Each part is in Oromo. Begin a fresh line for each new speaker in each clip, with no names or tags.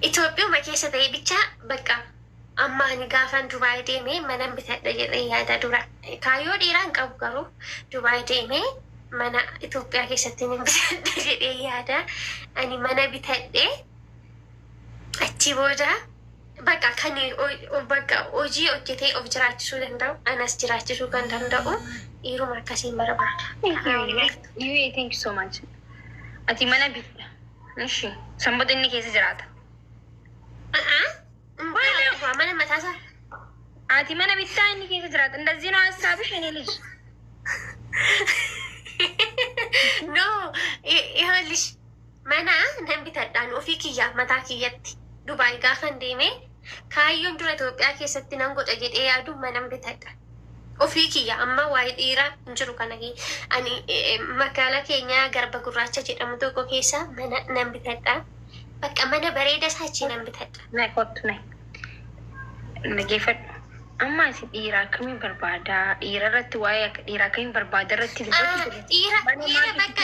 Itoophiyuma keessa ta'ee bicha bakka amma ani gaafan Dubaay deeme manan bitadha jedhee yaada dura kaayyoo dheeraa hin qabu garuu Dubaay deeme mana Itoophiyaa keessatti nan bitadha jedhee yaada ani mana bitadhe achi booda bakka kan bakka hojii hojjetee of jiraachisuu danda'u anas jiraachisuu kan danda'u dhiiruma akkasiin barbaada. Thank you.
Thank you so much. Ati mana bitta. Ishi. Sanbota inni keessa jiraata. Aadaa
mana mataasaa. Ati
mana bittaa inni keessa jiraata. Indazii noo hassaabish inni lij.
No, ihoolish mana nan bitadhaan ofii kiyyaaf mataa kiyyatti. Dubaay gaafan deemee Kaayyoon dura Itoophiyaa keessatti nan godha jedhee yaadu manan bitadha. Ofii kiyya amma waa'ee dhiiraa hin jiru kana ani magaalaa keenyaa garba gurraacha jedhamu tokko keessa mana nan bitadha. Bakka mana bareeda isaa achii nan bitadha. Nay kottu nay
dhageeffadhu. Amma ati dhiira akkamii barbaada? Dhiira irratti waa'ee dhiira akkamii barbaada irratti dubbachuu Dhiira dhiira
bakka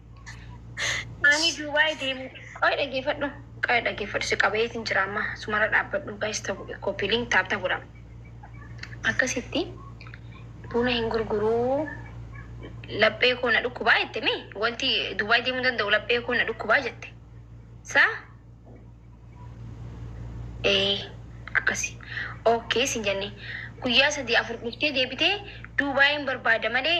Ani Dubai deemu. Qoy dhageefadhu. Qoy dhageefadhu si qabayeetin jira amma sumara dhaabbadhu guys tabu copy link taab tabu dha. Akkasitti buna hin gurguruu laphee koo na dhukkubaa jette mi wanti Dubai deemuu danda'u laphee koo na dhukkubaa jette. Sa ee akkasi. Okay sin jenne guyyaa sadii afur dhuftee deebitee Dubaiin barbaada malee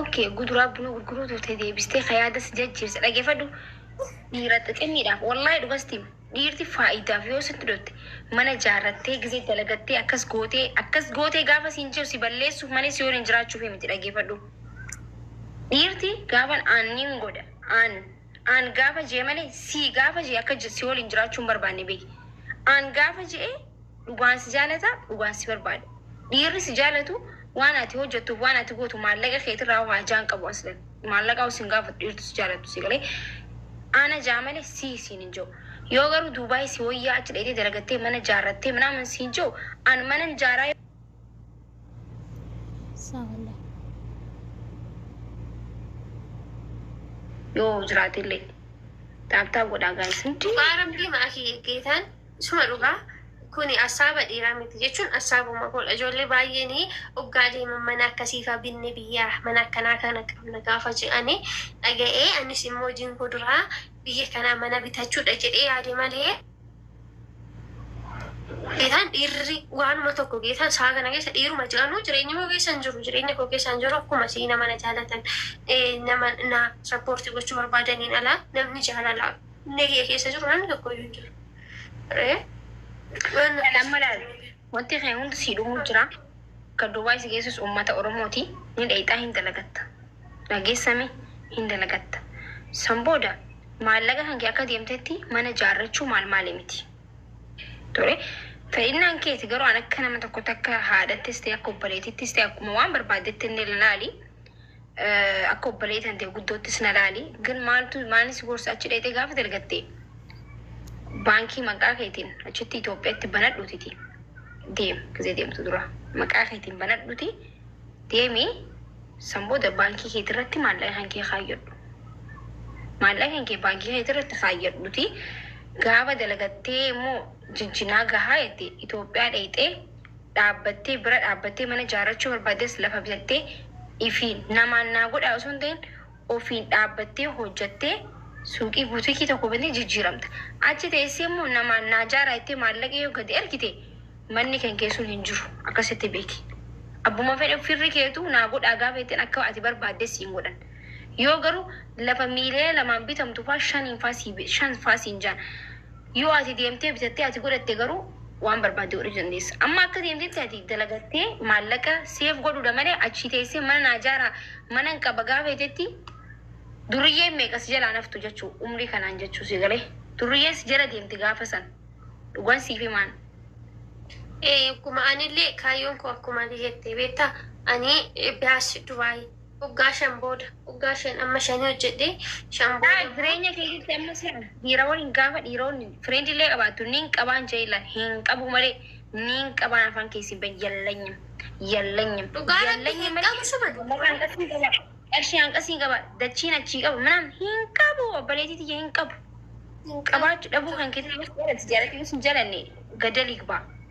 ok guduraa bunaa gurguruu turte deebistee ka yaada si jajjiirse dhagefadhu dhiira xixinniidhaaf wallahi dhugasti dhiirti faayidaaf yoo sitti dhotte mana jaarrattee gizee dalagattee akkas gootee akkas gootee gaafa siin jiru si balleessuuf malee si waliin jiraachuuf miti dhagefadhu dhiirti gaafan aan nin godha aan aan gaafa jee malee sii gaafa jee akka si waliin jiraachuun barbaanne beeki aan gaafa jee Dhugaan si jaalata, dhugaan si barbaada. Dhiirri si jaalatu waan ati hojjattuuf waan ati gootu maallaqa keetirraa hoo hajaa hin qabu aslan. Maallaqaa hoo sin gaafatu dhiirtu si jaalatu si galee. Ana jaa malee si siin hin jiru. Yoo garuu Duubaay si wayyaa achi dhayitee dalagattee mana jaarrattee minaaman siin jiru an manan jaaraa Saawalla. yoo jiraate illee taaptaa godhaa gaayis. Dhugaa rabbii maakii
geetaan Isuma dhugaa Kuni assaaba dhiiraa miti jechuun assaabuma koodha ijoollee baay'een oggaa deeman mana akkasiifaa binne biyyaa mana akkanaa kana qabna gaafa je'an dhaga'ee anis immoo hojiin koo duraa biyya kanaa mana bitachuudha jedhee yaade malee geetaan dhiirri waanuma tokko geetaan sa'a kana keessa dhiiruma je'anuu jireenya koo keessa hin jiru jireenya koo keessa hin jiru akkuma sii nama na jaalatan nama na sappoortii gochuu barbaadaniin alaa namni jaalala Onnee kiyya keessa jiru namni tokko iyyuu hin jiru. Ree? Waan Kan
amma laal wanti kee hundi sii dhumuu jira. Kan Duubaay si geessus uummata Oromooti. Ni dheeyxaa hin dalagatta. Dhageessami hin dalagatta. San booda maallaqa kan kee akka deemtetti mana jaarrachuu maal maali miti. Ture. Fedhinnaan keeti garuu an akka nama tokkotti akka haadhattis ta'e akka obboleetittis ta'e akkuma waan barbaaddetti inni ilaali. akka obboleeti tante guddoottis na laali gin maaltu maalni si gorsa achi dheexee gaafa dalgatte baankii maqaa keetiin achitti Itoophiyaatti banadhuutiti deem gizee deemtu dura maqaa keetiin banadhuuti deemi san booda baankii keetii irratti maallaqa kan kee kaayyadhu maallaqa kan kee baankii keetii irratti kaayyadhuuti gaafa dalagattee immoo jijjinaa gahaa jette Itoophiyaa dheexee dhaabbattee bira dhaabbattee mana ijaarrachuu barbaaddes lafa bitattee ifi namaan naa godhaa osoo hin ta'in ofiin dhaabbattee hojjattee suuqii butikii tokko bantee jijjiiramta. Achi teessee immoo namaan naa jaaraa jettee maallaqa yoo gadi ergite manni kan kee sun hin jiru akkasitti beeki. Abbuma fedhe firri keetuu naa godhaa gaafa jetteen akka ati barbaadde siin godhan. Yoo garuu lafa miiliyoona lamaan bitamtu faa shaniin faa sii shan faa siin jaan. Yoo ati deemtee bitattee ati godhatte garuu waan barbaadde godhachuu dandeessa. Amma akka deemtetti ati dalagattee maallaqa seef godhuudha malee achii teessee mana naa ijaaraa manan qaba gaafa jetetti durriyyeen meeqa si jalaan haftu jechuu umrii kanaan jechuu si galee durriyyeen si jala deemti gaafa san dhugan siif himaan. Ee
dhuguma anillee kaayyoon koo akkuma ati jette beektaa ani dash dubaay. Waggaa shan booda. Waggaa shan amma shanii hojjedhee shan booda immoo. Jireenya keetitti amma
sila dhiira waliin gaafa dhiiroonni friend illee qabaattu niin qabaan jee illaan hin qabuu malee niin qabaan afaan keessi hin bahin yallanyim yallanyim Dhugaa rabbi yallanyim hin malee
qabu suban. lafa hanqasii qaba qarshii hanqasii
qaba dachiin achii qaba minaan hin qabu obboleetii tiyya hin qabu Hin qabu. qabaachuu dhabuu kan keetii yoo si jaalate yoo si hin jalanne gadal igbaa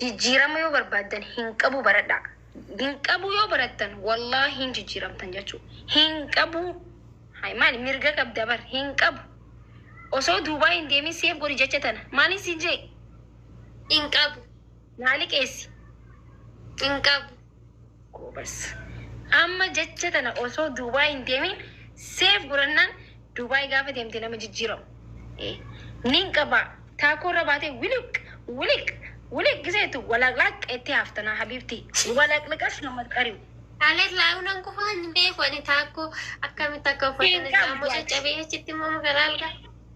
Jijjiirama yoo barbaaddan hin qabu baradhaa. Hin qabu yoo barattan wallaahi hin jijjiiramtan jechuu. Hin qabu. Hay maali mirga qabda bar hin qabu. Osoo duubaa hin deemin seef godhi jecha tana. Maaliin siin jee? Hin
qabu. Naa liqeessi.
Hin
qabu. Goobaz.
Amma jecha tana osoo Dubai hin deemin save godhannaan Dubai gaafa deemte nama jijjiiramu. Ee. Nin qaba. Taakoo irra baatee wiliq wiliq wiliq gisa jettu walaqlaq jettee hafta naa habiibti. Walaqlaqas nama qari'u. Aleet laayuu
nan kufa hin beeku ani taakkoo akkamitti akka uffatan Hin irraa qabdu immoo ati. caccabee achitti immoo magaalaa algaa.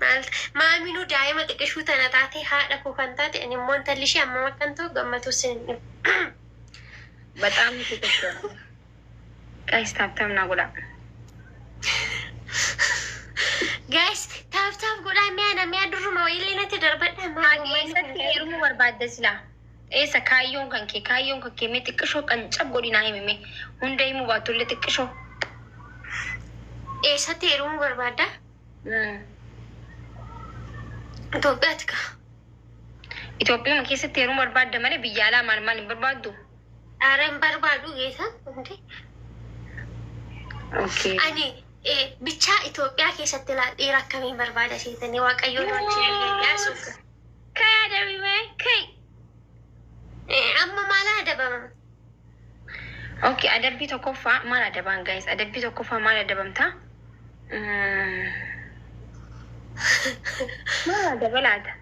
Maal maaminuu daa'ima xiqishuu tana taatee haadha koo kan taate ani immoo intalli ishee ammam akkan ta'u gammatuu sin hin dhibu. Baxaam
nati tolteera guys taap taap naa godhaa.
Guys taap taap godhaa mee ana mee durruma wayilee natti darbadhaa maa Haadhi ummanni kun eessatti heerumuu
barbaadda silaa? Eessa kaayyoon kan kee kaayyoon kan kee mee xiqqishoo qancab godhi naa himi mee hunda himuu baattu illee xiqqishoo.
eessatti heerumuu barbaadda? Itoophiyaatti ka.
Itoophiyaa keessatti yeroo barbaadda malee biyya alaa maal maal hin barbaaddu? Dhaara hin
barbaadu geessa. Okay. Ani eh, bichaa Itoophiyaa keessatti laa dhiira akkamii barbaada seetanii waaqayyoon wajjin yaasuuf. Kaya
dabime kai.
Amma maalaa dabamama?
Ok adabbii tokkoffaa maal adabaan guys adabbii tokkoffaa maal adabamtaa? Mm. Maal adaba laata?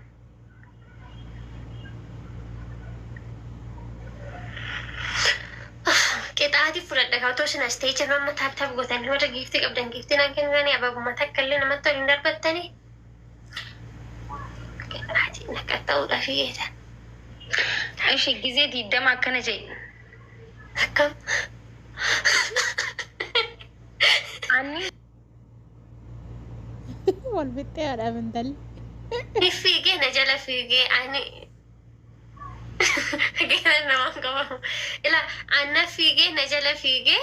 Qixaati fudhadha kaa otoo isin as ta'ee jirra amma taaptaap gootan warra giiftii qabdan giiftiin akka hin taane ababuma takka illee namatti ol hin darbattanii. Maatiin akka ta'uudhaaf geessa.
Ishee gizee diiddama akkana jedhi. Akkam. Anni
Wal fixxee haadha amantalli.
fiigee na jala fiigee ani gara namaan qabamu. Ila anna fiigee na jala fiigee